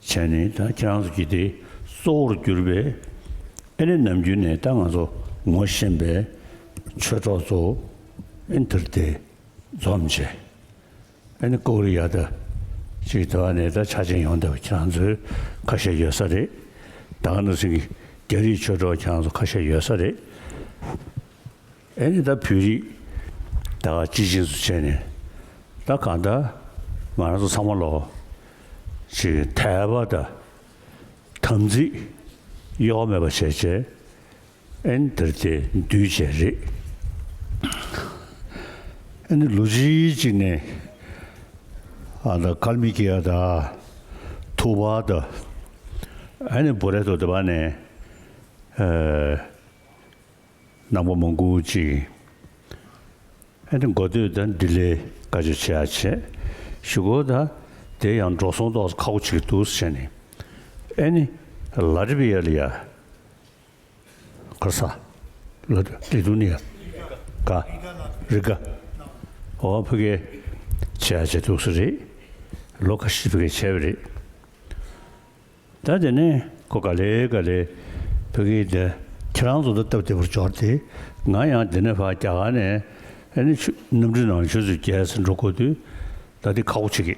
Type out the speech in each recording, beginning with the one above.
བྱས་ནས་ད་ཁྱེད་རང་ཚོ་བགྱིས་ཏེ་གཙོ་བོར་གྱུར་པས། ཨེ་ནི་ནམ་རྒྱུན་ནས་ད་ང་ཚོ་ངོ་ཤེས་པའི་ཆོས་གྲོགས་ཚོ་ཨིན་དྷིར་དེ་འཛོམས་བྱས། ཨེ་ནི་ཀོ་རི་ཡ་ད་ཅིག་དེ་བ་ནས་ད་ཆ་ཅན་ཡོང་ཐབས་ཁྱེད་རང་ཚོས་ཁ་ཤས་ཡོད་ས་རེད། ད་ག་འདྲ་སེང་གི་རྒྱ་རིགས་ཆོས་གྲོགས་ཁྱེད་རང་ཚོ་ཁ་ཤས་ཡོད་ས་རེད། ཨེ་ནི་ད་བོད་རིགས་ད་ག་སྤྱི་བྱིངས་སུ་བྱས་ནས་ད་ག་ད་ང་རང་ཚོ་ཚང་མ་ལོག་ཅིག་དད་པ་ད་དམ་ཚིག་གཡོ་བ་མེད་པ་བྱས་བྱས་ཨེ་ནི་དེར་དེ་འདུས་བྱས་རེད་ཨེ་ནི་ལོ་ཅི་ཅིག་ནས་ཨ་ད་ཀར་མི་ཀི་ཨ་ད་ཐུག་པ་ད་ཨེ་ནི་བོ་རེད་དོ་དེ་བ་ནས་ཨེ། ནག་པོ་མོ་འགུག་ཅིག། ཨེ་དེ་མགོ་སྟོད་དང་འདི་ལས་དཀའ་ཆེ་ཆེ་ཡ་ཆེ། ཞུ་གོ་ད། དེ་ཡང་འགྲོ་སོང་ཏོག་ཁ་བོ་ཆིག་ཏུ་བྱས་ནས། ཨེ་ནི། ལ་རི་བི་ཡ་ལི་ཡ། ཁར་ས། ལ་དུ་ལི་དུ་ནི་ཡ། ག། རི་ག། ཨོ་བྷི་གེ། ཆེ་ཡ་ཆེ་ཏུག་སི་རེད། ལོ་ཁ་ཤི་བྷི་གེ་ཆེ་བྷི་རེད། ད་དེ་ནས་ཁོ་ག་ལེ་ག་ལེ་བོད་སྐད་དེ་ཁྱེད་རང་ཚོ་ལ་སྟབས་བདེ་བོར་འབྱོར་ཏེ་ང་ཡང་འདི་ནས་བར་རྒྱ་གར་ནས་ནི་ཆུ་གནམ་གྲུ་ནང་ཆུ་ཚོད་བརྒྱད་ཟིན་འགྲོ་དགོས་དུས་ད་དེ་ཁག་པོ་བྱེད་ཀྱི་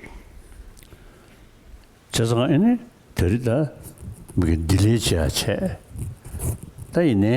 བྱས་ཙང་ཨེ་ནི་དེ་རི་ད་མི་གི་འདི་ལས་ཆེ་ཡ་ཆེ་ད་ཡིན་ནའི།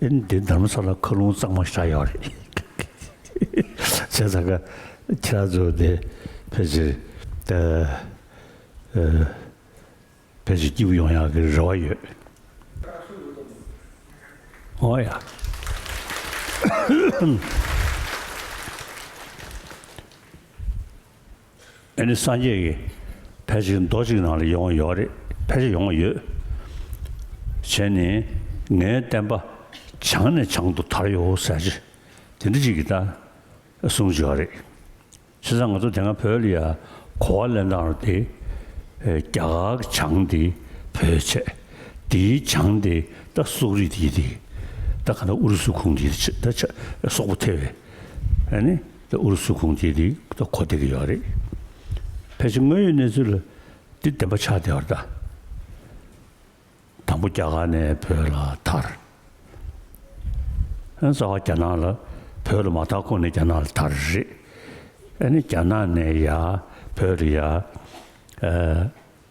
འདི་འདམ་བཟོ་ལ་ཁ་ལུང་གཙང་མ་བཞག་ཡོད་རེད། བྱས་ཙང་ཁ་ཁྱི་ར་བཟོ་དེ་ཕལ་ཆེར་ཕལ་ཆེར་སྐྱིད་པོ་ཡོང་ཡག་གི་རེ་བ་ཡོད། ཨོ་ཡ། འདི་ནི་སངས་རྒྱས་ཀྱི་ཕལ་ཆེར་མདོ་གཅིག་ནང་ལ་ཡོང་ཡོད་རེད་ཕལ་ཆེར་ཡོང་ཡོད། བྱས་ནས་ངའི་བསྟན་པ་བྱང་ནས་བྱང་དུ་དར་ཡོད་ཟེར་གྱི་དེ་འདྲ་ཅིག་གི་ད་གསུངས་བྱས་པ་རེད། ཕྱི་ཟ་ང་ཚོ་དེ་སྔ་བོད་ལ་ཡ་གོ་བ་ལེན་སྟངས་རེད་དེ། རྒྱ་གར་གྱི་བྱང་དེ་བོད་ཆས་དེའི་བྱང་དེ་ད་སོག་རིགས་དེ་ཡིན་དེ། ད་ག་ནས་ཨུ་རུ་སུ་ཁུངས་ཀྱི་ད་ཆ་སོག་པོ་ཐེ་བའི་ཨ་ནི། ཨུ་རུ་སུ་ཁུངས་སྐྱེལ་དེ་གོ་བདེ་གི་ཡོད་རེད། ཕལ་ཆེར་དངོས་ཡོད་གནས་ཚུལ་ལ་འདི་བདེན་པ་ཆགས་བསྡད་བར་གདའ། དང་པོ་རྒྱ་གར་ནས་བོད་ལ་དར། ཨ་རྩ་བ་རྒྱ་ནག་ལ་བོད་ལ་མ་དར་གོང་ནས་རྒྱ་ནག་ལ་དར་རེད། ཨ་ནི་རྒྱ་ནག་ནས་ཡ་བོད་ལ་ཡ།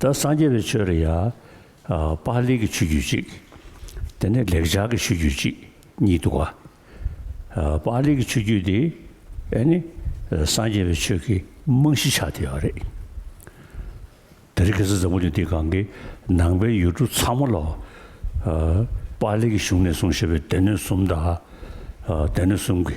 ད་སངས་རྒྱས་པའི་ཆོས་ལ་ཡང། པཱ་ལིའི་གི་ཆོས་རྒྱུད་ཅིག། དེ་ནས་ལེགས་སྦྱར་གྱི་ཆོས་རྒྱུད་ཅིག་གཉིས་འདུག་ག། པཱ་ལིའི་གི་ཆོས་རྒྱུད་འདི་ཨེ་ནི། སངས་རྒྱས་པའི་ཆོས་ཀྱི་རྨང་གཞི་ཆགས་བསྡད་པ་རེད། དེ་རིགས་གེ་སར་འཛམ་བུ་གླིང་འདིའི་སྒང་གི་ནང་པའི་ཡུལ་གྲུ་ཚང་མ་ལ། པཱ་ལིའི་གི་གཞུང་ནས་གསུངས་ཞེས་པའི་སྡེ་སྣོད་གསུམ་དང། སྡེ་སྣོད་གསུམ་གྱི་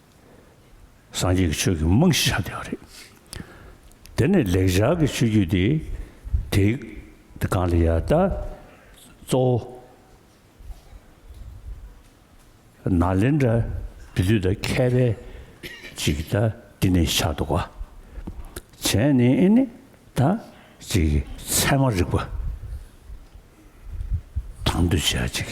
སངས་རྒྱས་ཀྱི་ཆོས་ཀྱི་རྨང་གཞི་ཆགས་བསྡད་པ་རེད། དེ་ནས་ལེགས་སྦྱར་གྱི་ཆོས་བརྒྱུད་དེ་དེ་གང་ལ་ཡང་ད་གཙོ་བོ་ན་ལེན་དྲ་བདུད་དུས་ད་ཁྱད་པའི་ཅིག་ད་འདི་ནས་ཆགས་འདུག་བ། བྱས་ནས་ཨེ་ནི་ད་ཅིག་ཚད་མ་རིག་པ་དང་འདུ་བྱས་ཅིག།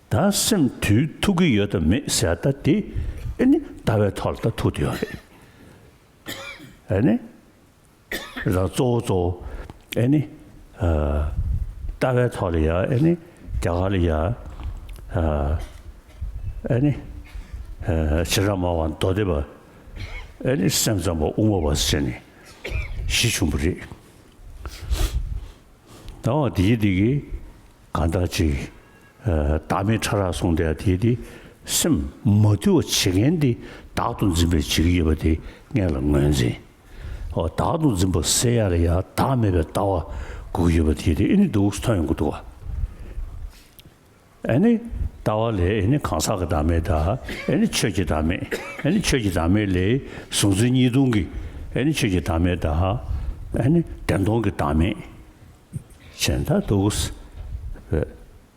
ད་སེམས་དུས་ཐུག་གི་ཡོད་དམ་མེད་ཟེར་ད་དེ་ཨེ་ནི་ལྟ་བའི་ཐོག་ལ་ད་ཐུག་ཏུ་ཡོད་རེད་ཨེ་ནི། རང་གཙོ་བོ་གཙོ་བོ་ཨེ་ནི། ལྟ་བའི་ཐོག་ལ་ཡ་ཨེ་ནི་རྒྱ་གར་ལ་ཡ་ཨེ་ནི། བྱེ་བྲག་མང་བ་མདོ་སྡེ་པ་ཨེ་ནི་སེམས་ཙམ་པ་དབུ་མ་བ་ཟེར་ནས་གཞི་ཆུང་པོ་རེད། ད་འོ་དེའི་དེ་གི། གང་དག་ཅིག། བདག་མེད་ཕྲ་རགས་སོང་སྟེ་དེས་དེ་སེམས། མ་དུལ་བ་བྱེད་མཁན་དེ་བདག་ཏུ་འཛིན་པའི་འཇིགས་ཡེར་བ་དེ་སྔས་ལ་ངོས་འཛིན། འོ་བདག་ཏུ་འཛིན་པ་སེ་ཡ་ལ་ཡང་བདག་མེད་པའི་ལྟ་བ་དགུག་ཡེར་བ་དེས་དེ་ཨེ་ནི་དུག་གསུ་ཐོན་ཡོང་གི་འདུག་ག་ཨེ་ནི་ལྟ་བ་ལས་ཨེ་ནི་གང་ཟག་གི་བདག་མེད་དང་ཨེ་ནི་ཆོས་ཀྱི་བདག་མེད་ཨེ་ནི་ཆོས་ཀྱི་བདག་མེད་ལས་གཟུང་འཛིན་གཉིས་སྟོང་གི་ཨེ་ནི་ཆོས་ཀྱི་བདག་མེད་དང་ཨེ་ནི་བདེན་སྟོང་གི་བདག་མེད། གཞན་དག་འདུག་གསལ།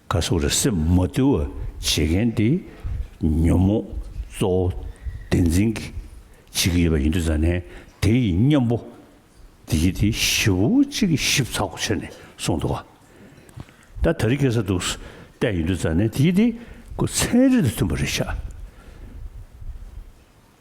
ཁ་སོགས་རེ་སེམས་མ་བསྡུ་བ་བྱེད་མཁན་དེ་ཉོན་མོངས་གཙོ་བོ་བདེན་འཛིན་གྱིས་བྱེད་ཀྱི་ཡོད་པ་ཡིན་དུས་ཙང་ནས་དེ་ཡི་གཉེན་པོ་བདེ་སྐྱིད་དེ་བཞི་བོ་གཅིག་གིས་ཞིབ་ཚགས་པོ་བྱས་ནས་གསུངས་འདུག་ད་ད་རིག་གེ་སར་འདུག་བལྟས་ཡིན་དུས་ཙང་ནས་དེ་ཡི་དེ་ཚན་རིག་དང་མཐུན་པ་རེ་ཆགས།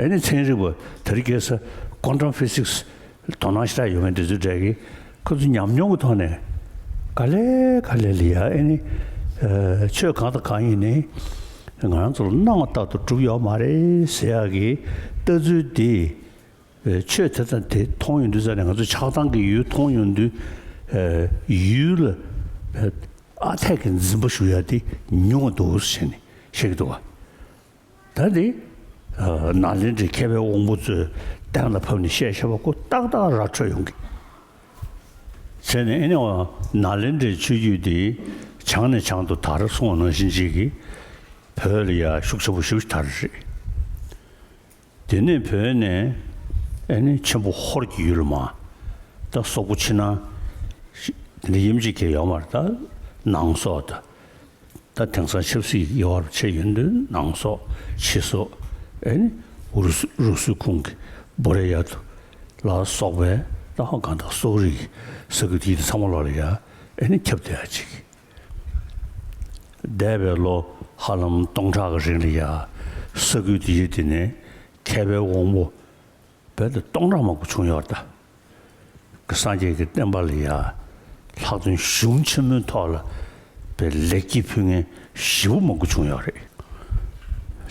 ཨེ་ནི་ཚན་རིག་པ་དར་རྒྱས་ས Quantum Physics ལ་དོ་སྣང་ཤ་སྟག་ཡོད་མཁན་དེ་ཚོའི་གྲས་ཀྱིས་ཁོ་ཚོའི་ཉམས་མྱོང་གི་ཐོག་ནས་ག་ལེ་ག་ལེ་ལི་ཡ་ཨེ་ནི་ཆོས་གང་དང་གང་ཡིན་ནི་ང་རང་ཚོ་ལ་སྣང་བ་ལྟར་དུ་གྲུབ་ཡོད་མ་རེད་ཟེར་ཡག་གི་ལྟ་ཚུལ་འདིས་ཆོས་དེ་དང་དེ་མཐོང་ཡོང་དུས་ས་ནས་ང་ཚོ་ཆགས་སྡང་གི་ཡུལ་མཐོང་ཡོང་དུས་ཡུལ་ལ་ཨ་འཐས་ཀྱི་འཛིན་པ་ཞུ་ཡག་འདི་ཉུང་བ་འདུག་ཟེར་ནས་བཤད་ཀྱི་འདུག་བ། ད་དེ། ན་ལེན་དྲི་མཁས་པའི་དབང་པོ་ཚོའི་གདན་ལ་ཕབ་ནས་བཤད་བྱ་བ་སྐུ་ཏག་ཏག་ར་འཕྲོད་ཡོང་གི། ཚེ་ནི་ཨེ་ནའོ། ན་ལེན་དྲིའི་ཆོས་བརྒྱུད་འདི་བྱང་ནས་བྱང་དུ་དར་སོང་བ་ནང་བཞིན་བྱེས་ཀྱི་བོད་ལ་ཡར་ཤུགས་ཆེན་པོ་ཞུགས་ཤིག་དར་རེད། དེ་ནས་བོད་ནས་ཨེ་ནའི་ཆེན་པོ་ཧོར་གྱི་ཡུལ་མ་ད་སོག་པོ་ཕྱི་ནང། དེ་ནས་ཡུམ་གཅིག་གི་ཡོག་མར་ད་ནང་སོག་ད། ད་དེང་སང་ཆབ་སྲིད་ཀྱི་དབྱེ་བར་ཕྱེ་ཡོད་འདོད་ནང་སོགས་ཕྱི་སོགས་ཨེ་ནི་འུ་རུ་སུའི་ཁུངས་ཀྱི་སྦོ་རེ་ཡ་དུ་ལ་སོགས་པའི་རྟ་བ་གང་དག་སོག་རིགས་ཀྱི་ས་ཁུལ་དེ་དེ་ཚང་མ་ལོ་ལ་ཡ་ཨེ་ནི་ཁྱབ་བསྡད་ཡ་གཅིག་གི་འདས་པའི་ལོ་ཧ་ལམ་སྟོང་ཕྲག་གི་རིང་ལ་ཡ་ས་ཁུལ་དེ་ཡི་དེ་ནས་མཁས་པའི་དབང་པོ། བོད་དུ་སྟོང་ཕྲག་མང་པོ་བྱུང་ཡོད་ད། ཀྱི་སངས་རྒྱས་ཀྱི་བསྟན་པ་ལ་ཡ། ལྷག་བཙུན་གཞུང་ཆེན་མོའི་ཐོག་ལ། པའི་ལེགས་སྐྱེས་ཕུལ་མཁན་བཞི་བོ་མང་པོ་བྱུང་ཡོད་རེད།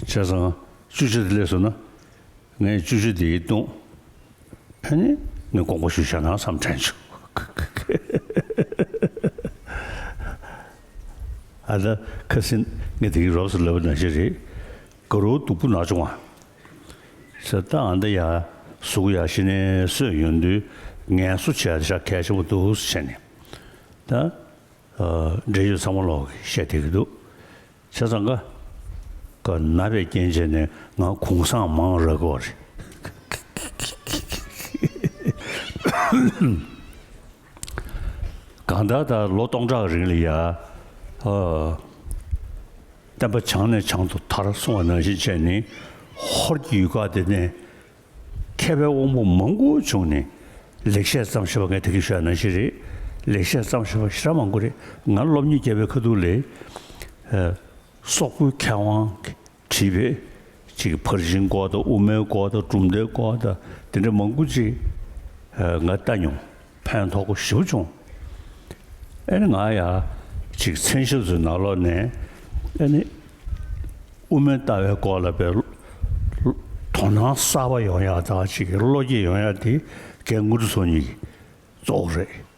བྱས་ཙང་བཅུ་བཞི་དེ་ལས་སོ་ན། ངས་བཅུ་བཞི་དེ་ཡིད་རྟོན། ཧེ་ནི་ནི་དགོངས་པ་ཞུ་བྱ་ན་བསམ་དྲན་བྱོས། ཨ་ད་ཁ་སིན་ངས་དེ་གི་རོབ་སུ་ལབ་པ་ན་བཞི་རེད། དགའ་རོགས་སྡུག་པོ་ནག་ཆུང་བ། ཟེར་ད་འདི་ཡ། གཟུགས་ཡག་ཤི་ནས་སོས་ཡོད་འདུག་ངལ་གསོ་བྱས་ད་ཤ་གལ་ཆེན་པོ་འདུག་བྱས་ནས། ད། འབྲེལ་ཡོད་ཚང་མ་ལོག་གི་བཤད་དེ་གི་འདུག་བྱས་ཙང་ཀ། ཀ་ན་པའི་རྐྱེན་བྱས་ནས་ང་གུང་བསངས་མང་རག་གི་བ་རེད། གང་ལྟར་ད་ལོ་སྟོང་ཕྲག་རིང་ལ་ཡར། བསྟན་པ་བྱང་ནས་བྱང་དུ་དར་སོང་བ་ནང་བཞིན་བྱས་ནས་ཧོར་གྱི་ཡུལ་ཁག་འདི་ནས་མཁས་པའི་དབང་པོ་མང་པོ་བྱུང་ནས་ལེགས་བཤད་བརྩམས་ཞེས་པ་ངས་དེ་གི་ཤོད་ཡ་ནང་བཞིན་རེད་ལེགས་བཤད་བརྩམས་ཞེས་པ་ཤི་ར་མང་པོ་རེད་ང་སློབ་གཉེར་རྒྱལ་བའི་ཁ་ཐུག་ལས། སོག་པོའི་མཁས་དབང། བྲིས་པས། ཅིག་ཕར་ཕྱིན་སྐོར་དང་དབུ་མའི་སྐོར་དང་གྲུབ་མཐའི་སྐོར་དང་དེ་འདྲ་མང་པོ་ཅིག་ང་ལྟ་མྱོང། ཕན་ཐོགས་པོ་ཞིབ་བྱུང། ཨེ་ནི་ང་ཡང་ཅིག་མཚན་ཞབས་སུ་ནག་ལོག་ནས་ཨེ་ནི། དབུ་མའི་ལྟ་བའི་སྐོར་ལ་བའི། དོ་སྣང་གསར་པ་ཡོང་ཡག་དང་ཅིག་བློ་སྐྱེད་ཡོང་ཡག་དེ་གལ་ངོ་ཏུ་སོང་ཉིད་ཀྱི་གཙོ་བོ་རེད།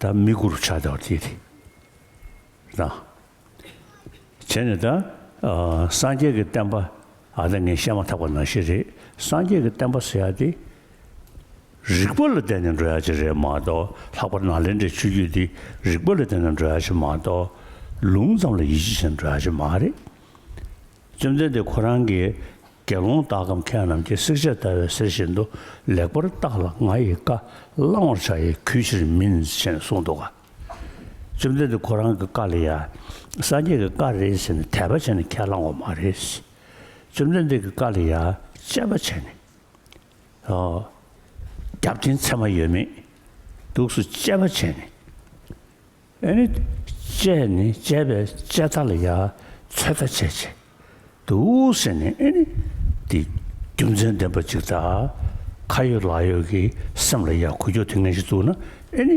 ད་མི་གུ་རུ་ཕྱག་བྱ་བར་བགྱིད་དེ། ན། བྱས་ནས་ད། སངས་རྒྱས་ཀྱི་བསྟན་པ་ཨ་ད་ངས་བཤད་མ་ཐག་པ་ན་ཤི་རེ་སངས་རྒྱས་ཀྱི་བསྟན་པ་ཟེར་ཡ་དེ། རིག་པ་ལ་བརྟེན་ནས་འགྲོ་ཡ་ཅིག་རེད་མ་གཏོགས་ལྷག་པར་ན་ལེན་དྲའི་ཆོས་བརྒྱུད་འདི་རིག་པ་ལ་བརྟེན་ནས་འགྲོ་ཡ་ཞིག་མ་གཏོགས་ལུང་ཙམ་ལ་ཡིད་ཆེས་བྱས་ནས་འགྲོ་ཡ་ཞིག་མ་རེད། བཅོམ་ལྡན་འདས་ཁོ་རང་གི་དགེ་སློང་དག་གམ་མཁས་རྣམས་ཀྱིས་བསྲེག་བྱ་ལྟ་བའི་ཟེར་བཞིན་དུ་ལེགས་པར་བརྟགས་ལ་ང་ཡི་བཀའ་བླང་བར་བྱ་ཡི་གུས་ཕྱིར་མིན་ཞེས་གསུངས་འདུག་ག། བཅོམ་ལྡན་འདས་ཁོ་རང་གི་བཀའ་ལ་ཡང་སངས་རྒྱས་ཀྱི་བཀའ་རེད་ཟེར་ནས་དད་པ་བྱས་ནས་ཁས་བླང་བ་མ་རེད། བཅོམ་ལྡན་འདས་ཀྱི་བཀའ་ལ་ཡང་དཔྱད་པ་བྱས་ནས། རྒྱབ་རྟེན་ཚད་མ་ཡོད་མེད་དུགས་སུ་དཔྱད་པ་བྱས་ནས། ཨེ་ནི། དཔྱད་ནི་དཔྱད་པའི་དཔྱད་མཐའ་ལ་ཡང་ཚོད་མཐའ་ཆེ། བྱེད་དུ་བསྲེ་ནི་ཨེ་ནི། འདི་རྒྱུ་མཚན་ལྡན་པ་ཅིག་དང། ཁ་ཡོད་ལག་ཡོད་ཀྱི་སེམས་ལ་ཡང་གོ་རྒྱུ་དེ་ངན་ཞིག་བཙུགས་ན་ཨེ་ནི།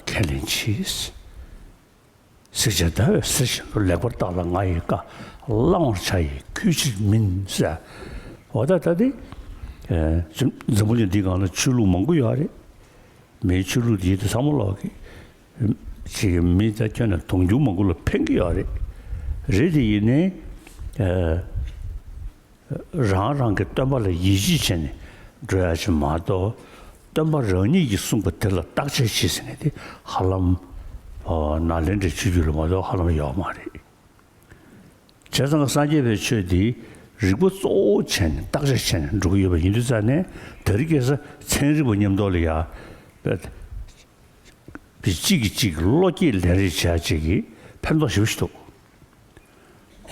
ཁས་ལེན་གྱིས། གཟིགས་ཅན་ཟླ་བས་ཟེར་བཞིན་དུ་ལེགས་པར་བརྟགས་ལ་ང་ཡི་བཀའ་བླང་བར་བྱ་ཡི་ཁུལ་ཅིག་མིན་ཟེར། འོ་ད་ལྟ་འདི། འཛམ་བུ་གླིང་འདིའི་སྒང་ལ་ཆོས་ལུགས་མང་པོ་ཡོད་རེད། མིའི་ཆོས་ལུགས་འདི་ཚང་མ་ལོག་གི། མི་རྩ་ཁྱོན་ནས་དུང་ཕྱུར་མང་པོ་ལ་འཕེན་གི་ཡོད་རེད། རེད་དེ་ཡིན་ནའི། རང་རང་གི་སྟོན་པ་ལ་ཡིད་ཆེས་བྱས་ནས་འགྲོ་ཡག་བྱེད་མ་གཏོགས། སྟོན་པ་རང་ཉིད་ཀྱིས་གསུངས་པ་དེ་ལ་བརྟག་དཔྱད་བྱེད་ཟེར་མཁན་དེ་ཧ་ལམ། ནཱ་ལེནྡྲའི་ཆོས་བརྒྱུད་ལ་མ་གཏོགས་ཧ་ལམ་ཡོད་མ་རེད། བྱས་ཙང་སངས་རྒྱས་པའི་ཆོས་འདི་རིག་པ་གཙོ་བོ་བྱས་ནས་བརྟག་དཔྱད་བྱས་ནས་འགྲོ་གི་ཡོད་པ་ཡིན་དུས་རྩ་ནས་དར་རྒྱས་ས་ཚན་རིག་པ་ཉམས་རྟོགས་ལ་ཡ་གཅིག་གིས་གཅིག་བློ་སྐྱེད་ལན་རེ་བྱས་རྗེས་ཀྱི་ཕན་ཐོགས་ཞིབ་ཕྱི་ཐུག་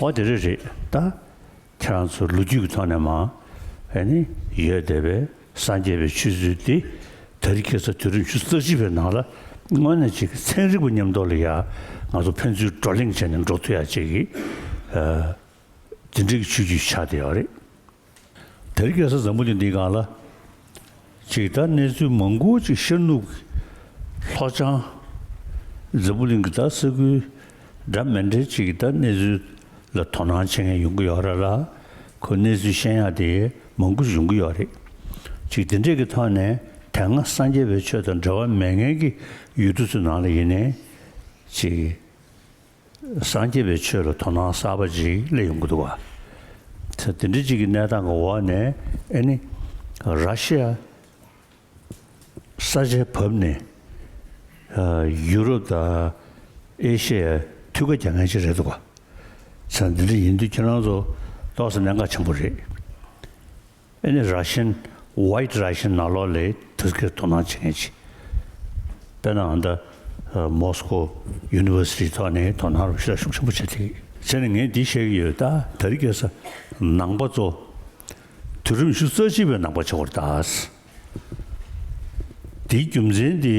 འོ་དེ་རེད་རེད་ད། ཁྱེད་རང་ཚོ་ལོ་རྒྱུས་ཀྱི་ཐོག་ནས་མང། ཡོད་བསྡད་པའི་སངས་རྒྱས་པའི་ཆོས་ཚུལ་དེ་ད་རིག་ཁྱེད་ཚོ་དུས་རབས་བཅུ་རྩ་གཅིག་པའི་ནང་ལ་དངོས་གནས་གཅིག་ཚན་རིག་པ་ཉམས་རྟོགས་ལ་ཡ་ང་ཚོ་ཕན་ཚུན་བགྲོ་གླེང་བྱས་ནས་འགྲོ་ཐུ་ཡ་གཅིག་གི་དེ་འདྲའི་ཆོས་བརྒྱུད་ཆགས་བསྡད་ཡོད་རེད། ད་རིག་ཁྱེད་ཚོ་འཛམ་བུ་གླིང་འདིའི་སྒང་ལ། ཇི་ལྟར་གནས་ཚུལ་མང་པོ་ཅིག་ཤར་ནུབ་ཀྱི་ལྷོ་བྱང། རྫི་བོ་གླིང་གི་དག་སེལ་ཁུལ་འདྲ་མི་འདྲ་ཅིག་གི་ལྟར་གནས་ཚུལ་ལ་དོ་སྣང་བྱེད་མཁན་ཡོང་གི་ཡོད་ར་ལ། ཁོས་གནས་ཚུལ་བཤད་ཡག་དེ་མང་པོ་འབྱུང་གི་ཡོད་རེད། ཅིག་དེ་འདྲས་ཀྱི་ཐོག་ནས་དེ་སྔ་སངས་རྒྱས་པའི་ཆོས་དང་འབྲེལ་བ་མེད་མཁན་གྱི་ཡུལ་གྲུ་ཚོའི་ནང་ལ་ཡིན་ནས། ཅིག། སངས་རྒྱས་པའི་ཆོས་ལ་དོ་སྣང་གསར་པ་ཅིག་སླེབས་ཡོང་གི་འདུག་བ། དེ་འདྲ་ཅིག་གི་གནས་སྟངས་ཀྱི་འོག་ནས་ཨེ་ནི། ར་ཤི་ཡ་ས་ཆའི་བབས་ནས། ཡུ་རོབ་དང་ཨེ་ཤི་ཡའི་མཐུད་ཁ་རྒྱག་མཁན་ཅིག་རེད་འདུག་བ། འདི་འདྲ་ཡིན་དུས་ཁྱེད་རང་ཚོ་ལྟོགས་ས་གནད་འགག་ཆེན་པོ་རེད། ཨེ་ནི་རཱ་ཤན། White Russian། ནག་ལོག་ལས་ཐུར་སྐྱེར་དོ་སྣང་བྱེད་མཁན་གཅིག། དཔེར་ན་ཨ་མདའ། Moscow། University ཐོག་ནས་དོ་སྣང་རུ་བཤད་ཤུགས་ཆེན་པོ་བྱེད་ཐུབ། ཚེ་ནི་ངས་འདི་བཤད་ཀྱི་ཡོད་ད་ད་རི་སྐྱེས་ས། ནང་པ་ཙོ། དུས་རིམ་བཞུགས་རྩ་ལྕི་བའི་ནང་པ་ཆེ་བར་ད། དེའི་རྒྱུ་མཚན་དེ་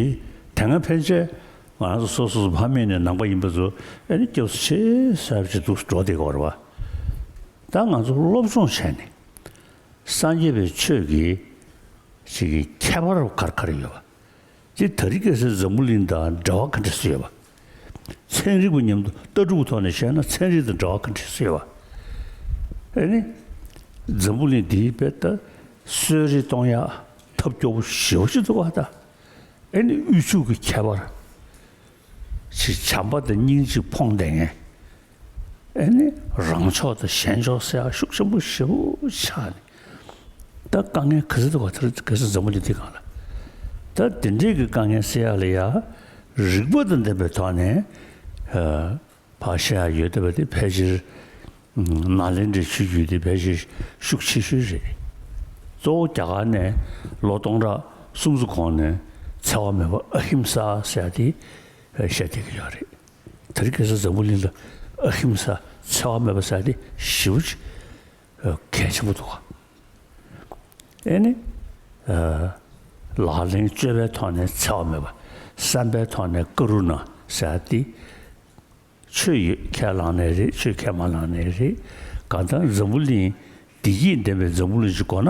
དེ་སྔ་ཕན་ཆད་ང་རང་ཚོ་སོ་སོ་སོ་ཕ་མེས་ནས་ནང་པ་ཡིན་པ་ཚོ་ཨེ་ནི་སྐྱབས་སུ་ཆེ་ས་བྱེད་འདུག་འགྲོ་བདེ་ག་བར་བ། ད་ང་ཚོ་སློབ་སྦྱོང་བྱས་ནས། སངས་རྒྱས་པའི་ཆོས་ཀྱི། ཞིག་གི་ཁྱད་པར་རོ་གར་གར་ཡོད་པ། ཅི་ད་རི་ཀས་སེ་འཛམ་བུ་གླིང་དང་འདྲ་བ་ག་འདྲ་སུ་ཡོད་པ། ཚན་རིག་པ་ཉམས་དུ་ལྟ་གྲུབ་ཀྱི་ཐོག་ནས་བཤད་ན་ཚན་རིག་དང་འདྲ་བ་ག་འདྲ་སུ་ཡོད་པ། ཨེ་ནི། འཛམ་བུ་གླིང་འདིའི་དཔེ་ལྟ་གསོལ་རི་སྟོང་ཡག་ཐབས་སྐྱོ་བོ་ཞི་བ་ཞིག་ཏུ་བ་ད། ཨེ་ནི་དབུལ་ཕྱུག་གི་ཁྱད་པར། ཅིག་བྱམས་པ་དང་སྙིང་རྗེ་འཕོངས་ལྡན་ངན། ཨེ་ནི་རང་ཕྱོགས་དང་གཞན་ཕྱོགས་སེ་ཨ་ཤུགས་ཆེན་པོ་ཞེ་བོ་ཆགས་ནས། ད་དཀའ་ངལ་ག་ཚོད་དུ་བ་དེར་གལ་སྲིད་འཛམ་བུ་འདི་དེ་གང་ལ། ད་དེ་འདྲས་ཀྱི་དཀའ་ངལ་སེ་ཡ་ལ་ཡ། རིགས་པ་དང་ལྡན་པའི་ཐོག་ནས། བར་བཤད་ཡ་ཡོད་བསྡད་པ་དེ་ཕལ་ཆེར་ནག་ལེ་འདྲེ་ཆུ་རྒྱུས་དེ་ཕལ་ཆེར་ཤུགས་ཆེ་ཤོས་རེད། གཙོ་བོ་རྒྱ་གར་ནས་ལོ་སྟོང་ཕྲག་སུམ་ཅུ་གོང་ནས་འཚེ་བ་མེད་པ་ཨ་ཧིམ་ས་ཟེར་ཡ་དེ་བཤད་བསྡད་ཀྱི་ཡོད་རེད། དེར་གེ་སར་འཛམ་བུ་གླིང་ལ་ཨ་ཧིམ་ས་འཚེ་བ་མེད་པ་ཟེར་ཡ་དེ་ཞི་བ་ཅིག། གལ་ཆེན་པོ་འདུག་དེ་ནི་ལག་ལེན་སྤྱོད་པའི་ཐོག་ནས་འཚེ་བ་མེད་པ་བསམ་པའི་ཐོག་ནས་ཀ་རུ་ན་ཟ་སྟེ། ཆོས་ཡོད་ཁས་བླངས་ནས་རེད་ཆོས་ཁས་མ་བླངས་ནས་རེད། གང་ལྟར་འཛམ་བུ་གླིང་བདེ་སྐྱིད་ལྡན་པའི་འཛམ་བུ་གླིང་ཞིག་དགོས་ན་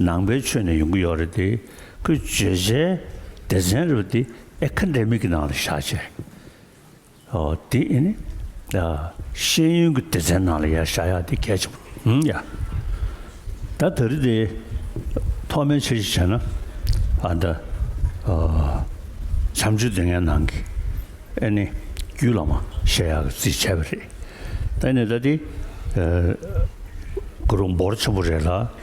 ནང་པའི་ཆོས་ནས་ཡོང་གི་ཡོད་རེད་དེ་ཁོས་བརྗོད་བྱའི་སྡེ་ཚན་རེ་བ་དེ་ཨེ་ཁ་འདྲེ་མིག་གི་ནང་ལ་བཞག་བྱས་ཨོ་དེ་ཨེ་ནི་ད་ཤེས་ཡོན་གི་སྡེ་ཚན་ནང་ལ་ཡ་བཞག་ཡག་དེ་གལ་ཆེན་པོ་ཡ་ད་ད་རི་དེ་ཐོག་མའི་ཆེ་ཞིག་བྱས་ན་ཨ་ད་བྱམས་ཆོས་དེ་ངའི་ནང་གི་ཨེ་ནི་རྒྱུད་ལ་མ་བཤད་ཡག་གི་རྩིས་བྱས་པ་རེད་ད་ཨེ་ནི་ད་དེ་གུ་རུ་འབོར་ཆེན་པོ་རེད་ལ།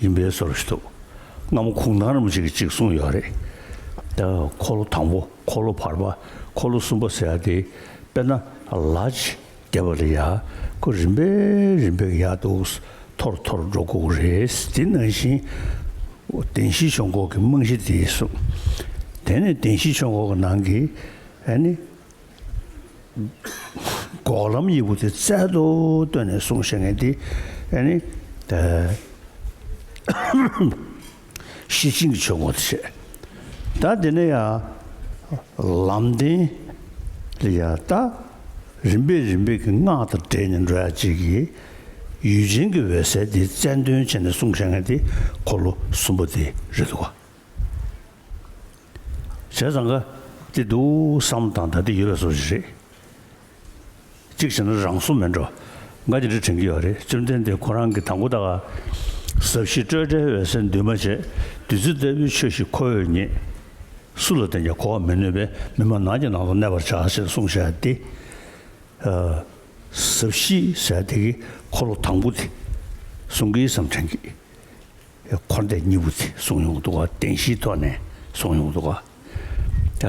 ཡིན་པའི་སོར་བཞི་ཐུབ། རྔ་མོ་ཁུང་ཐང་རིམ་བཞི་གི་གཅིག་གསུངས་ཡོད་རེད། དེ་འཁོར་ལོ་དང་པོ་འཁོར་ལོ་བར་པ་འཁོར་ལོ་གསུམ་པ་ཟེར་ཡ་དེ་དཔེར་ན་ལྀ་ཇི་བརྒྱད་པ་ལས་ཡ་ཁུ་རིམ་པས་རིམ་པས་ཡར་འདུག་མཐོ་རུ་མཐོ་རུ་འགྲོ་དགོས་ཀྱི་རེད། དེ་ནང་བཞིན་བདེན་བཞིའི་ཆོས་འཁོར་གྱི་རྨང་གཞི་དེ་གསུངས། དེ་ནས་བདེན་བཞིའི་ཆོས་འཁོར་གྱི་ནང་གི་ནི། འགོག་ལམ་དབྱེ་བུ་དེ་རྩལ་དུ་བཏོན་ནས་གསུང་བཤད་མཁན་དེ་ནི། གཞི་ཆིངས་ཀྱི་ཆོས་ངོ་ཚ་ཤེས། ད་འདི་ནས་ཡང་ལམ་བདེན་ལ་ཡང་ལྟ། རིམ་པས་རིམ་པས་ཀྱི་སྔགས་དང་སྦྲེལ་ནས་འགྲོ་ཡ་གཅིག་གིས། ཡུལ་ཅན་གྱི་འོད་གསལ་དེ་རྩལ་འདོན་བྱས་ནས་གསུང་བཤད་མཁན་དེ་འཁོར་ལོ་གསུམ་པོ་དེ་རེད་དོ། བྱས་ཙང་དགའ་ཏེ་འདུག་བསམ་དང་ད་ལྟ་ཡོད་པའི་བཟོ་བྱེད་རེད། གཅིག་བྱས་ན་རང་སྲུང་མེད་འགྲོ་འགའ་ཅི་འདྲ་དྲན་གྱི་ཡོད་རེད་བཅོམ་ལྡན་འདས་ཁོ་རང་གི་དང་པོ་དག་ཟབ་བཞི་སྤྲོས་བྲལ་འོད་གསལ་འདུས་མ་བྱས་བདུད་རྩི་ལྟ་བུའི་ཆོས་ཤིག་ཁོ་བོས་ངེད་སུ་ལ་བསྟན་ཀྱང་གོ་བར་མི་ནུས་པས་མི་མ་ནག་གི་ནང་དུ་གནས་པར་བྱ་ཞེས་གསུངས་བྱས་ཏེ། ཟབ་བཞི་ཟད་དེ་ཀའི་འཁོར་ལོ་དང་པོ་དེ་གསུང་གིས་སམ་དྲན་གྱིས། འཁོར་འདས་གཉིས་པོ་ཚེ་གཟུང་ཡོངས་རྫོགས་བ་དན་བཞིའི་ཐོག་ནས་གཟུང་ཡོངས་རྫོགས་བ། ད་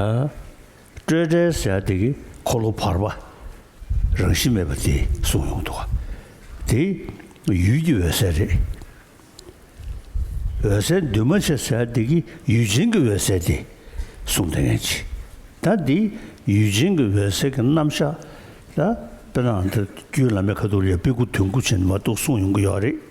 སྤྲོས་བྲལ་ཟད་དེ་ཀའི་འཁོར་ལོ་བར་པ་རང་བཞིན་མེད་པ་དེ་གཟུང་ཡོངས་རྫོགས་བ། དེ་ཡུལ་གྱི་འོད་གསལ་རེད། འོད་གསལ་འདུས་མ་བྱས་ཟད་དེ་ཀའི་ཡུལ་ཅན་གྱི་འོད་གསལ་དེ་གཟུང་དེ་ངེས་བྱེད། ད་འདི་ཡུལ་ཅན་གྱི་འོད་གསལ་གྱི་རྣམ་གཞག་ལ་དཔེར་ན་འདིར་རྒྱུད་བླ་མའི་ཁ་ཐུག་ལས་པི་ཀུ་དུས་འཁོར་ཆེན་མ་གཏོགས་གསུངས་ཡོང་གི་ཡོད་རེད།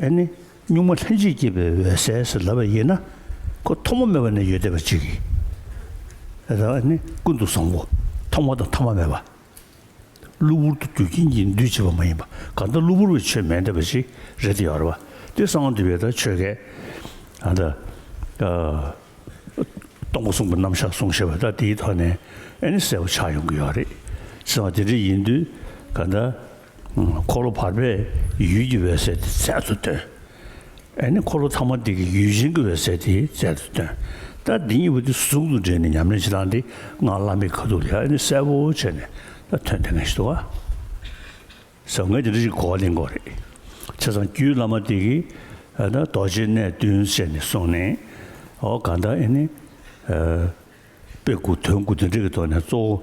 ཨེ་ནི། གཉུག་མ་ལྷན་ཅིག་སྐྱེས་པའི་འོད་གསལ་ཞེས་ལབ་པ་ཡིན་ན། ཁོ་ཐོག་མ་མེད་པ་ནས་ཡོད་བསྡད་པ་ཅིག་ཡིན། རེད་ཨེ་ནི། ཀུན་ཏུ་བཟང་པོ་ཐོག་མ་དང་ཐ་མ་མེད་པ། གློ་བུར་དུ་རྒྱུ་རྐྱེན་གྱིས་འདུས་བྱས་པ་མ་ཡིན་པ་གང་ལྟར་གློ་བུར་བའི་ཆོས་མེད་འདྲ་བ་ཞིག་རེད་དེ་ཡོད་རེད་པ། དེ་སང་འདི་བས་ད་ཆོས་སྐད། ཨ་ད། སྟོང་པ་གསུངས་པ་རྣམ་གཞག་གསུངས་ཞེས་པ་ད་དེའི་ཐོག་ནས་ཨེ་ནི་གསལ་བོ་ཆགས་ཡོང་གི་ཡོད་རེད། ཟེར་བ་དེ་འདྲ་ཡིན་དུས་ག་ད། འཁོར་ལོ་བར་པའི་ཡུལ་གྱི་འོད་གསལ་དེ་རྩལ་དུ་སྟོན། ཨ་ནི་འཁོར་ལོ་ཚང་མ་དེ་གི་ཡུལ་གཞན་གྱི་འོད་གསལ་དེ་རྩལ་དུ་སྟོན། ད་འདི་གཉིས་པོ་དེ་ཟུང་དུ་འབྲེལ་ནས་ཉམས་ལེན་བྱེད་སྟངས་དེ་སྔར་བླ་མའི་ཁ་ཐུག་ལས་ཨ་ནི་གསལ་པོ་བྱས་ནས་ད་ཐོན་དེ་ངེས་ཤེས་ཟབ་མོ་ངས་དེ་འདྲ་ཞིག་གོ་བ་ལེན་དགོས་རེད། ཚེ་ཚང་རྒྱུད་བླ་མ་དེ་གི་ཨ་ན་རྡོ་རྗེ་གནས་བསྟུན་བྱས་ནས་གསུངས་ནས་ཨོ་གང་ལྟར་ཨེ་ནི། དཔེ་དགུ་དོན་དགུ་དེ་འདྲ་གི་ཐོག་ནས་གཙོ་བོ།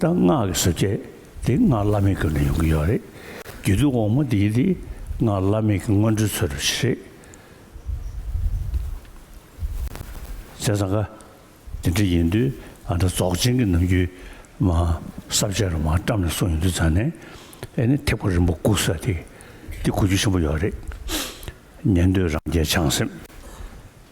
ད་སྔགས་ཀྱི་ཟབ་ཁྱད་དེ་སྔགས་བླ་མེད་ཀུན་ལ་ཡོང་གི་ཡོད་རེད། རྒྱུད་དུས་འོག་མ་འདིའི་དེ་སྔགས་བླ་མེད་ཀྱི་སྔོན་འགྲོའི་ཚུལ་རེད། བཙན་ས་ག་དེ་འདྲ་ཡིན་དུས་ཨ་མྲ་རྫོགས་ཆེན་གྱི་ནམ་རྒྱུན་མ་ཟབ་ཆེན་རུ་མ་བཀྲམ་ནས་གསུངས་ཡོང་དུས་ཚང་ནས་ཨེ་ནི་ཐེག་པ་རིན་པོ་དགུ་ས་དེ་འདི་གོ་རྒྱུ་ཆེན་པོ་ཡོད་རེད། ཉན་དུས་རང་རྒྱལ་བྱང་སེམས།